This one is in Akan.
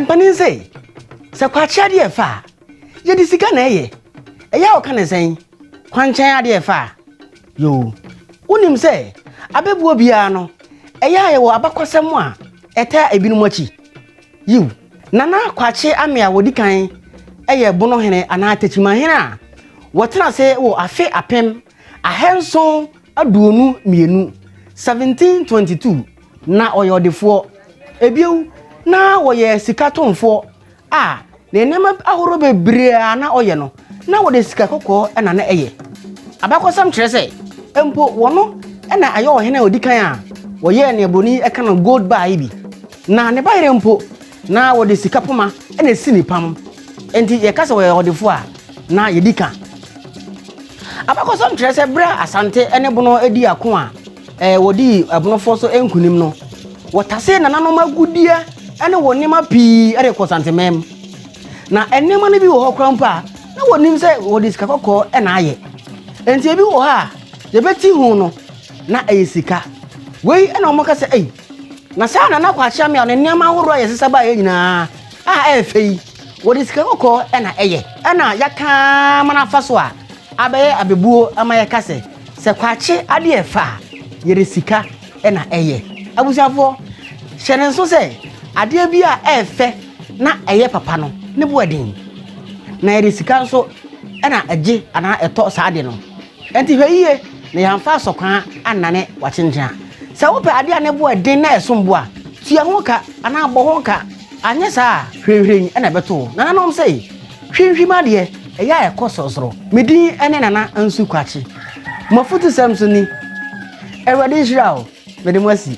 Mpanin se, Sɛ kwakye adeɛ refa a, yɛde sika na ɛyɛ. Ɛyɛ a wɔka no sɛn? Kwankyɛn adeɛ refa a? Yoo. Wonim sɛ abɛbuo biara no, ɛyɛ a yɛwɔ abakɔsɛm a ɛtaa ebinom akyi? Yiw. Nana Kwakye Ame a ɔdi kan yɛ Bonohene anaa Tekyimahene a wɔtena ase wɔ afe apem Ahanson aduonu mmienu, 1722, Na ɔyɛ ɔdefoɔ. Bio, na ɔyɛ sika tɔnfoɔ a ne nneɛma ahoroɔ bebree a na ɔyɛ no, na wɔde sika kɔkɔɔ na na ɛyɛ. Abakɔsɛm kyerɛ sɛ mpo wɔno na ɛyɛ ɔhene a ɔdi kan a wɔyɛɛ nea buroni yi ka no gold bar yi bi. Na ne bayerɛ mpo, Na wɔde sika poma na esi ne pam. Enti yɛka sɛ wɔyɛ ɔdefo a, na yedi ka. Abakɔsɛm kyerɛ sɛ bere a Asante ne Bono dii ako a wɔdii Bonofoɔ so nkonim no, wɔtasee nananom agudeɛ ne wɔn nneɛma pii de kɔɔ Santemɛm. Na nneɛma no bi wɔ hɔ koraa mpo a, na wɔnim sɛ wɔde sika kɔkɔɔ na ayɛ. Enti ebi wɔ hɔ a, yɛbɛti ho no, na ɛyɛ sika. Wei na wɔka sɛ, ei, Na saa na na Kwakyea Mea no nneɛma ahorow a yɛn nsesa baeɛ nyinaa a ɛyɛ fɛ yi, wɔde sika kɔkɔɔ na ɛyɛ. Ɛna yɛaka ama no afa so a, abɛyɛ abɛbuo ama yɛka sɛ, sɛ Kwakye adeɛ yɛ fɛ a, yɛde sika na ɛyɛ. Abusuafoɔ, hyɛ no nso sɛ, adeɛ bi a ɛyɛ fɛ na ɛyɛ papa no, ne bo yɛ den. Na yɛde sika nso na ɛgye anaa ɛtɔ saa adeɛ no. Enti hwɛ yiye na yɛamfa asɔkwan annane w'akyenkyea. Sɛ wopɛ ade a ne bo yɛ den na ɛsom bo a, tua ho ka anaa bɔ ho ka, anyɛ saa a, hwirenhwiren na ɛbɛto wo. Nananom se, Hwimhwim adeɛ, ɛyɛ a ɛkɔ sorosoro. Me din ne Nana Ansu Kwakye. M'afutusɛm so ni, Awurade nhyira wo, mede mo asi.